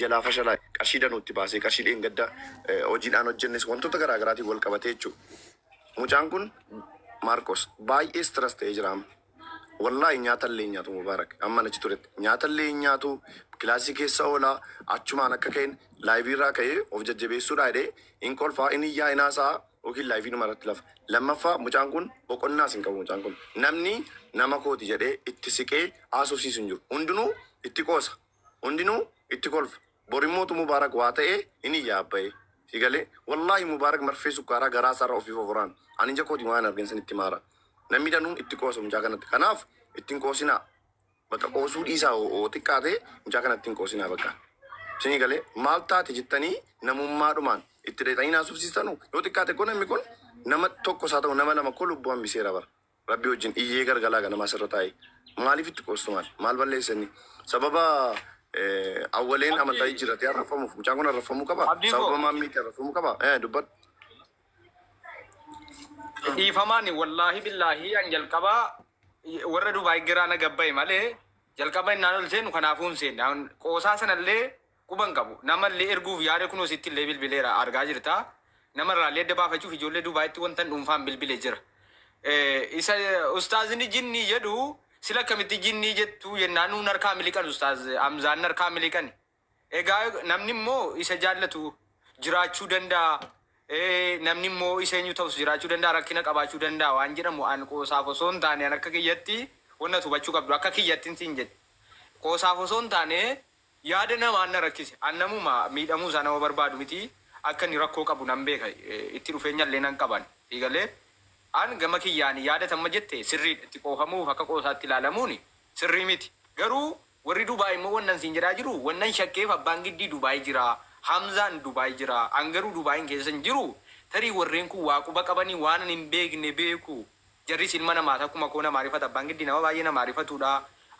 jalaa fashalaa qarshii danuutti baasee qarshii dheengadda hojiidhaan hojjennes wantoota garaagaraatiin wal qabatee jechuudha. Mucaan kun Maarkos baay'ee stress ta'ee jira amma. Wallahi nyaata illee hin nyaatu Mubaarak hamman achi turetti. Nyaata illee hin nyaatu, kilaasii keessa oola, achumaan akka ka'een live irraa ka'ee of jajjabeessuudhaa jedhee hin kolfa, hin iyyaa, hin haasa'a yookiin live dhuma irratti lafa. Lammaffaa mucaan kun boqonnaas hin qabu mucaan kun. Namni nama kooti jedhee itti siqee haasofsiisu hin jiru. Hundinuu itti qoosa. Hundinuu itti kolfa. Borimmoo tu Mubarak waa ta'ee hin iyyaa abbaye. Si galee? Wallahi Mubarak marfee sukkaaraa garaa isaarra ofii foforaan. Ani ija kootiin waan hin argin isinitti hima hara. Namni danuu itti qoosa mucaa kanatti. Kanaaf itti hin qoosinaa. Bakka qoosuu dhiisaa hoo xiqqaate mucaa kanatti hin qoosinaa bakka. Isinii galee? Maal taate jettanii namummaadhumaan itti dhayxanii hin haasofsiistanu? Yoo xiqqaate koo namni kun nama tokkos haa ta'u nama lama koo lubbuu hambiseera bara. Rabbii wajjin iyyee gargalaa ganama asirra taa'e maaliif itti qoostu maal maal balleesse inni sababa awwaleen amantaa Abdii, jijjiirratee arraffamuuf mucaan kun arraffamuu qaba Abdii sababa koo. maammiitti arrafamuu qaba Eh, dubbadhu Dhiifamaan wallaahi billaahi an jalqaba warra Dubaay giraa na gabbaye malee jalqaba innaan ol seenu kanaafuu hin seenne. An Qoosaa sanallee Quba hin qabu. Nama illee erguuf yaade kunoo sitti illee bilbileera argaa jirta. Nama irraa illee adda baafachuuf ijoollee Dubaayitti wantan dhuunfaan bilbile jira. Isa ustaazni jinnii jedhu sila akkamitti jinnii jettu jennaan nuun harkaa miliqan ustaaz Hamzaan harkaa miliqani. Egaa namni immoo isa jaallatu jiraachuu danda'a. Namni immoo isa eenyu ta'us jiraachuu danda'a rakkina qabaachuu danda'a waan jedhamu an qoosaaf osoo hin taane an akka kiyyatti wanna hubachuu qabdu akka kiyyattin siin jedhe. Qoosaaf osoo hin taane Yaada namaa an na rakkise. An namuma miidhamuu isaa nama barbaadu miti. Akka inni rakkoo qabu nan beeka. Itti dhufeenya illee nan qaba an. Sii galee? An gama kiyyaan yaada ati amma jette sirriidha. Itti qoofamuuf akka qoosaatti ilaalamuun sirrii miti. Garuu warri Dubai immoo wannan siin jedhaa jiru wannan shakkeef abbaan Giddii Dubai jira, Hamzaan Dubai jira. An garuu Dubain keessa hin jiru. Tarii warreen kun waa quba qabanii waanan hin beekne beeku. Jarris ilma namaati akkuma koo namaa rifata abbaan giddii nama baay'ee namaa rifatuudha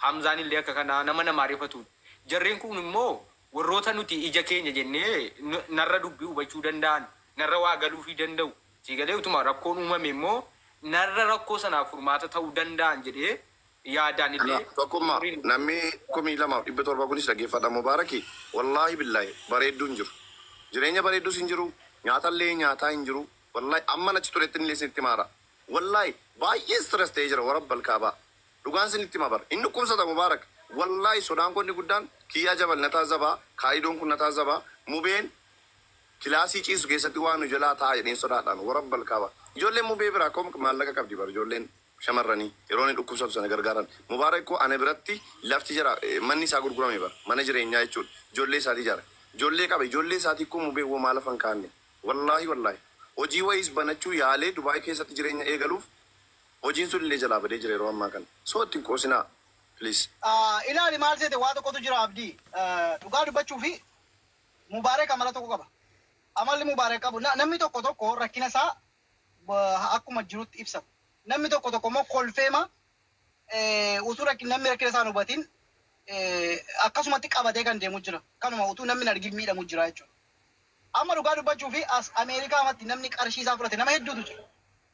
Hamzaan illee akka kana nama namaa rifatuudha jarreen kuun immoo warroota nuti ija keenya jennee narra dubbii hubachuu danda'an narra waa galuufii danda'u sii galee utuma rakkoon uumame immoo narra rakkoo sanaaf furmaata ta'uu danda'an jedhee yaadaan illee Ana tokkumma warri nu. namni kumii lamaaf dhibba torba kunis dhaggeeffadha mubaaraki wallaahi billaahi bareedduu hin jiru jireenya bareeddus hin jiru nyaatallee nyaataa hin jiru wallaahi amman achi turettinillee isinitti himaara Wallahi baay'ee stress ta'ee jira warabbal kaabaa dhugaan sinitti hima bar hin dhukkubsata mubaarak wallahi sodaan koo inni guddaan kiyyaa jabal na taazabaa kaalidoon kun na taazabaa mubeen kilaasii ciisu keessatti waa nu jalaa ta'a jedheen sodaadhaan warabbal kaabaa ijoolleen mubee biraa komk maallaqa qabdi bar ijoolleen shamarranii yeroo inni dhukkubsatu sana gargaaran mubaarak koo ana biratti lafti jara manni isaa gurgurame bar mana jireenyaa jechuudha ijoollee isaatii ijaare ijoollee qaba ijoollee isaatii koo mubee womaa lafa hin kaa'anne Wallaahi wallaahi hojii wayiis banachuu yaalee Dubai keessatti jireenya eegaluuf hojiin sun illee jalaa badee jira yeroo ammaa kana so itti hin qoosinaa please. Ilaali maal seete waa tokkotu jira Abdii dhugaa dubbachuufi Mubarek amala tokko qaba amalli Mubarek qabu namni tokko tokko rakkina isaa akkuma jirutti ibsata namni tokko tokko immoo kolfeema utuu rakkin namni rakkina isaa hin hubatin akkasumatti qabatee kan deemu jira kanuma utuu namni hin argin miidhamu jira jechuudha. Amma dhugaa dubbachuuf as Ameerikaamatti namni qarshii isaa fudhate nama hedduutu jira.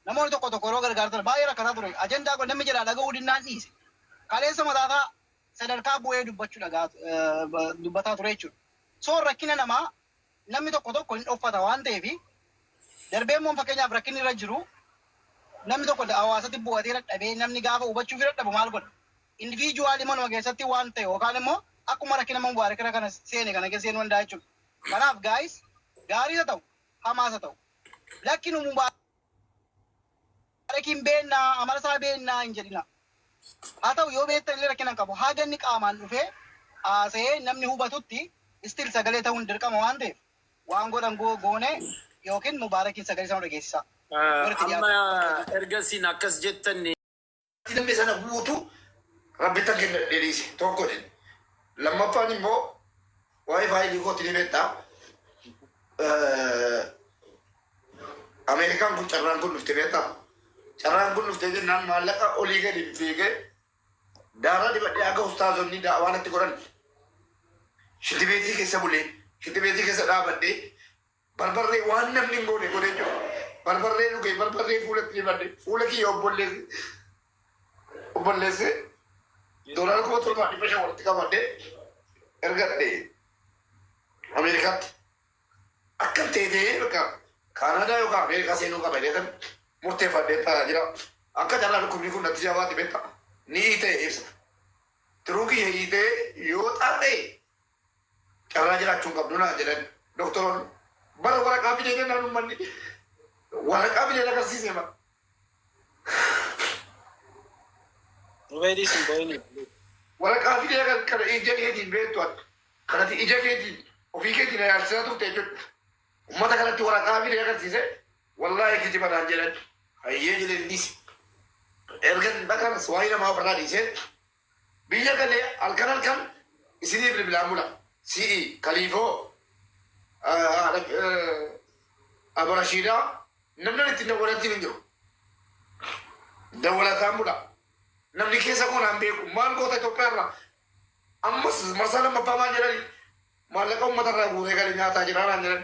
Namoonni tokko tokko yeroo gargaartan baay'ee rakkataa ture. Ajandaa koo namni jalaa dhaga'uu didnaan dhiise. Kaleessa mataasaa sadarkaa bu'ee dubbachuu dhaga'aa dubbataa ture jechuudha. So rakkina namaa namni tokko tokko hin dhoffata waan ta'eef darbee immoo fakkeenyaaf rakkinni irra jiru namni tokko hawaasatti bu'atee dadhabee namni gaafa hubachuu fi dadhabu maal godha? Indiviijuwaalii manuma keessatti waan ta'e yookaan immoo akkuma rakkina Mubaarak irra kana seene kana keessa seenuu danda'a jechuudha. Kanaaf guys gaariis ha ta'u hamaas ha ta'u lakki nu mubaarakiin beenna amala isaa beenna hin jedhina haa ta'u yoo beektan illee rakkina hin qabu haga inni qaamaan dhufee haasa'ee namni hubatutti still sagalee ta'uun dirqama waan ta'eef waan godhan goo goone yookiin mubaarakiin sagalee isaa nu dhageessisaa. Ah, Warri itti amma dhiyaatan. erga isin akkas jettan Namni sana guutuu rabbittan kennadhee dhiise tokko jedhe. Lammaffaan immoo waa'ee faayilii kooti ni beektaa. Ameerikaan kun carraan kun dhufte beektaa. Carraan kun dhufte jennaan maallaqa olii gadi fiigee daaraa dibadhee akka ustaazonni daawaa natti godhan shitibeetii keessa bulee shitibeetii keessa dhaabadhee Barbarree waan namni hin goone godhee jira. Barbarree dhugee barbarree fuulatti dibadhe fuula kiyya obbolleessi obbolleessi doolaara kuma torbaa dhibba shan walitti qabadhe ergadhe Ameerikaatti. Akka teetee bakka Kaanaadaa yookaan Ameerikaa seenuu qaba jedhan murteeffadhee taa'aa jira. Akka carraa dhukkubni kun natti jabaate beekta. Ni hiitee ibsa. Tiruu kiyya hiitee yoo xaadhee Carraa jiraachuu hin qabdu naan jedhan doktoroonni. Bara waraqaa fidee jennaan uummanni waraqaa fidee agarsiisee bara. Rubeedii sin boo'inii. Waraqaa fidee kan kana ija keetiin beektu akka kanati ija keetiin ofii keetiin ilaalchisaa turte jechuudha. Uummata kanatti waraqaa fidee agarsiise wallaahi kijiba naan jedhan hayyee jedheen dhiise. Erga dhaqanas waa'ee namaa ofirraa dhiisee Biyya galee halkan halkan isinii bilbilaan bula. Si'i kaliifoo aborashiidaa namni ani ittiin dawwalattiin hin jiru. Dawwalataan bula. Namni keessa koo naan beeku maal goota Itoophiyaa irraa ammas marsaa lammaffaa maal jedhani maallaqa uummata irraa guuree gale nyaataa jira naan jedhan.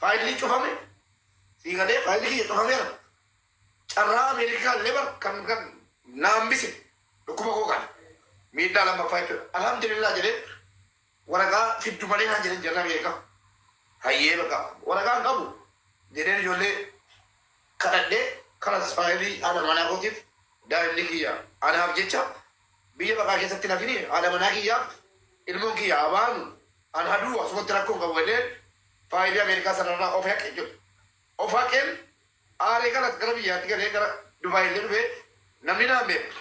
Faayilli cufame sii galee faayilli kiyya cufameera carraa Ameerikaa illee bar kan kan na hambise dhukkuba koo kana miidhaa lammaffaa jechuudha. Alhamdulillah jedheen waraqaa fiddu malee naan jedheen jarri Ameerikaa. Hayyee bakka waraqaa hin qabu jedheen ijoollee kadhadhee kanas faayilii haadha manaa kootiif daa'imni kiyya anaaf jecha biyya baqaa keessatti nafini haadha manaa kiyyaaf ilmoon kiyya abaanu an haduu asumatti rakkoo hin qabu jedheen faayilii Ameerikaa sanarraa of haqe jedhu. Of haqeen aaree kanas gara biyyaatti galee gara Dubaay illee dhufee namni naan beeku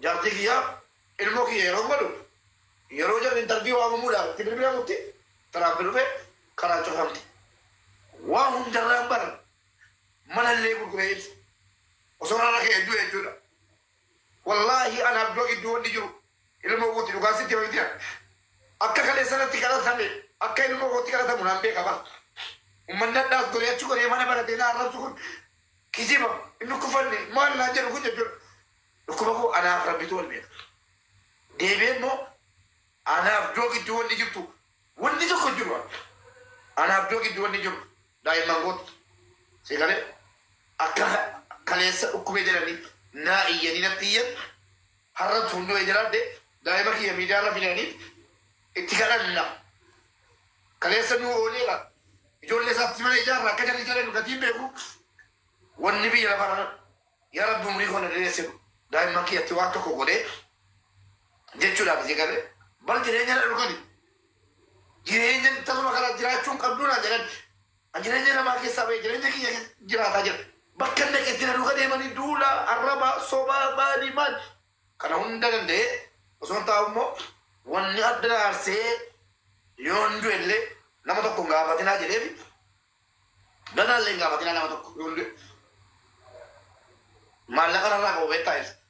jaartii kiyyaa ilmoo kiyya yeroon godhu yeroo jarri interview waamamuudhaaf itti bilbilamutti Tiraampi dhufe karaan cufamte. Waan hundarraan bar manallee gurguree ibsa. Osoo irra raka'e du'e jechuudha. Wallaahi an abdoo gidduu wanni jiru ilmoo kooti dhugaa sitti hima miti an akka kaleessa natti kadhatame akka ilmoo kootti kadhatamu nan beeka bar ummanni hadhaas goree achi goree mana baratee na arrabsu kun kijiba hin dhukkufanne maal naan jedhu kun jechuudha dhukkuba koo anaaf rabbitu wal beeka deebi'ee immoo ana abdoo gidduu wanni jirtu wanni tokko hin jiru an ana abdoo gidduu wanni jiru Daa'imman kootu si galee akka kaleessa dhukkubee jedhanii naa iyyanii natti iyyan har'a tuun du'ee jiraadhe daa'ima kiyya miidiyaa irra fidanii itti kadhanna kaleessa nuu ooleera ijoollee isaatti mana ijaarra akka jalli jalee nu gatiin beeku wanni biyya lafa irra yaa rabbi umrii koo na dheeresse daa'imman kiyyatti waan tokko godhee jechuudhaaf si galee bar jireenya na dhukani Jireenya tasuma kana jiraachuun qabduu naan jedhan. An jireenya namaa keessaa ba'e jireenya kiyya keessa jiraataa jira. Bakka dhaqetti na duuka deemanii duula, arraba, soba, maali maal kana hunda danda'ee osoon taa'u immoo wanni adda na aarsee yoon du'e illee nama tokko hin gaafatinaa jedheefi ganaa illee hin gaafatinaa nama tokko yoon du'e maallaqa narraa qabu beektaa ibsa.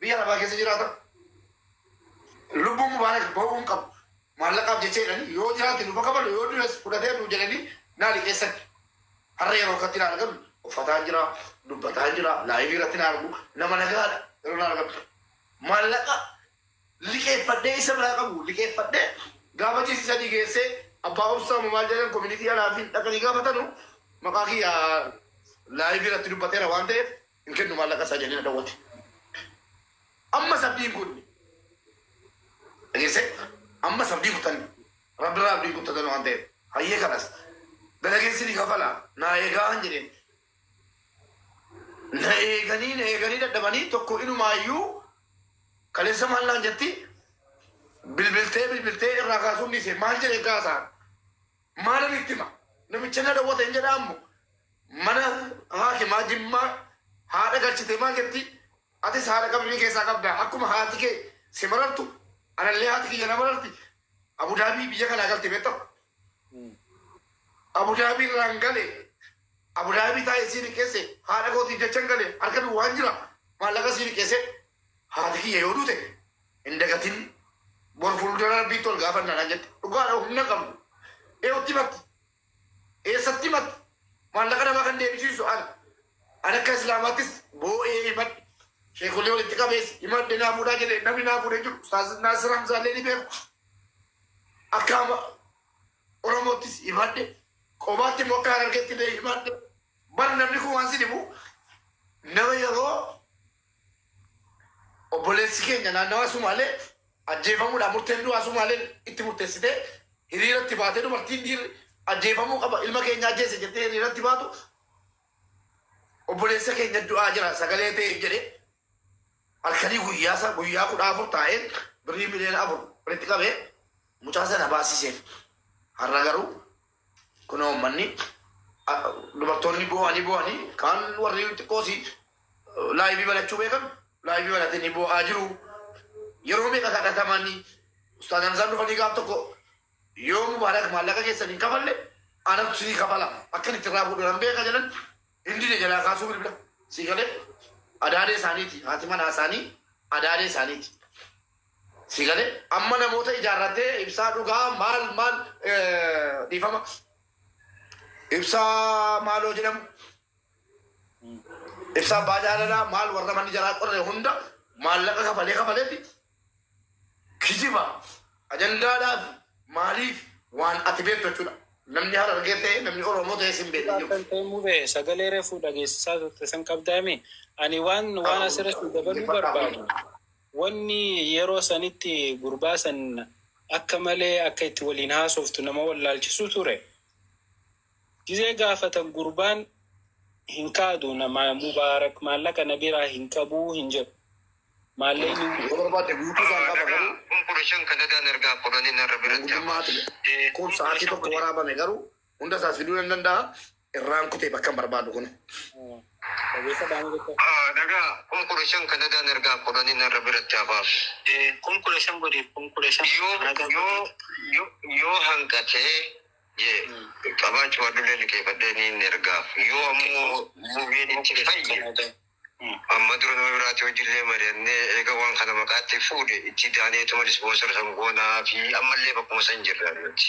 Biyya arabaa keessa jiraatan lubbuun mubaarak bahuu hin qabu maallaqaaf jecha jedhanii yoo jiraate nu bakafalu yoo du'es fudhatee nu jedhanii naa liqeessan har'a yeroo akkatti naa argan uffataan jira dubbataan jira laayivii irratti naa argu nama nagaadha yeroo naa argan maallaqa liqeeffadhee isa biraa qabu liqeeffadhee gaafa jiisi sadii geessee abbaa obsaa maal jedhan koominitii alaa fi dhaqanii gaafatanu maqaa kiyya laayivii irratti dubbateera waan ta'eef hin kennu maallaqa isaa jedhee na dawwate. Ammas abdiin kunne. Dhageessee ammas abdii kutanne. Rabbi irraa abdiin kuttatan waan ta'eef. Hayyee kanas dalageen sini kafala naa eegaa hin jedheen. Na eeganii na eeganii dadhabanii tokko inumaayyuu kaleessa maal naan jetti bilbiltee bilbiltee irraa kaasuun dhiise maal jedhee kaasaa. Maalan itti hima? Namicha na dhowwate hin jedhaa ammo mana haakimaa Jimmaa haadha galchitee maal jettii? Atis haadha qabrii keessaa qabda. Akkuma haati kee si marartu anallee haati kiyya na mararti. Abu Daabii biyya kanaa galte beektaa? Abu Daabii irraan gale. Abu Daabii taa'ee sii liqeesse. Haadha kootiif jechan gale. Harka duwwaan jira. Maallaqa sii liqeessee Haati kiyya yoo duute hin dagatin bor fuuldura rabbiitti ol gaafanna naan jette. Dhugaadha humna hin qabdu. Eewutti himatte. Eessatti himatte? Maallaqa namaa kan deebisiisu ana. Ani akka Islaamaattis boo'ee himadhe. Sheekolii walitti qabees himadhe naa fuudhaa jedhe namni naa fuudhee jiru Ustaaz Naasir Hamzaallee ni beeku. Akka ama Oromoottis himadhe. Qobaatti immoo akka Harargeetti illee himadhe. Bar namni kun waan si dhibu nama yeroo Obboleessi keenya naannawaa Sumaalee ajjeefamuudhaan murteen du'aa Sumaaleen itti murteessitee hiriiratti baate dubartiin dhiirri ajjeefamuu qaba ilma keenya ajjeese jettee hiriiratti baatu obboleessa keenya du'aa jira sagalee ta'eef jedhee halkanii guyyaa isaa guyyaa kudha afur taa'een birrii miliyoona afur walitti qabee mucaa sana baasiseef har'a garuu Kunoo ummanni a- dubartoonni boo'anii boo'anii kaan warri xiqqoosi laayivii banachuu beekan laayivii banatanii boo'aa jiru. Yeroo meeqa kadhatamanii ustaaz Hamzaan dhufanii gaaf tokko yoo mubaarak maallaqa keessan hin kafalle anatu sinii kafala akkan itti irraa fuudhu nan beeka jedhan hin dide jalaa kaasuu bilbila sii galee adaadee isaaniiti haati manaa isaanii adaadee isaaniiti. Sii galee amma namoota ijaarratee ibsaa dhugaa maal maal dhiifama ibsaa maaloo jedhamu ibsaa abbaa jaalalaa maal warra manni jaraa qorre hunda maallaqa kafalee kafaleeti kijiba ajandaadhaaf maaliif waan ati beektu jechuudha namni harargee ta'e namni oromoo ta'e sin beekne jiru. Kan ta'e mube sagalee reefuu dhageessisaa turte san qabdaami ani waan waan asirratti dabaluu barbaadu. Wanni yeroo sanitti gurbaa san akka malee akka itti waliin haasoftu nama wallaalchisu ture. Gizee gaafatan gurbaan hin kaadu nama Mubaarak maallaqa na biraa hin qabu hin jedhu. Maallaqni. Yoo barbaadde guutuu isaan qaba garuu. Kun 15 kadadaa nargaa fudhani narra biratti hafaa. Mangudummaati. Kun sa'aatii tokko waraabame garuu. Hunda isaas fiduu nan danda'a. Irraan kutee bakka hin barbaadu kun. Dhageessa dhaama jecha. Ah, Dhagaa kun kudha shan kan dhagaan ergaa kudhanii narra biratti hafaaf. Eh, kun kudha shan godhiif kun kudha shan. Yoo Ragaa yoo godhiif. yoo yoo hanqatee jee qabaachuu adullee liqeeffadhee niin ergaaf. Yoo ammoo muviin itti Kan fayye aadaa. Hmm. amma dura nama biraatti hojiillee mari'annee eega waan kana maqaatti fuudhe itti daaneetuma dispoosar san goonaa fi ammallee bakkuma san jirra nuti.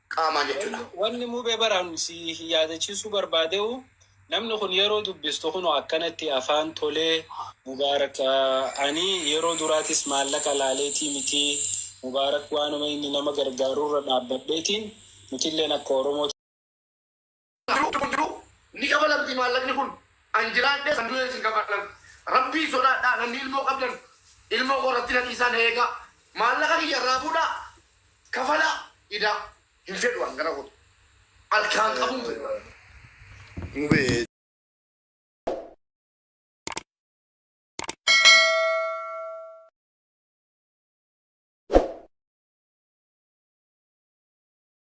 qaamaan jechuudha. Wanni mube baraan si yaadachiisuu barbaadeu namni kun yeroo dubbistu kunoo akkanatti afaan tolee Mubaarak ani yeroo duraatis maallaqa laaleetii miti Mubaarak waanuma inni nama gargaarurra dhaabbadheetiin nutilleen akka Oromootti Duubni kun jiruu ni kafalamtii maallaqni kun an jiraadhees an du'ees hin kafalamu rabbiin sodaadhaa namni ilmoo qabdan ilmoo koo irratti na dhiisaa na eegaa maallaqa kiyya irraa fuudhaa kafalaa idaa hin fedhu an gara kootti alkaan qabuu hin fedhu Mubee.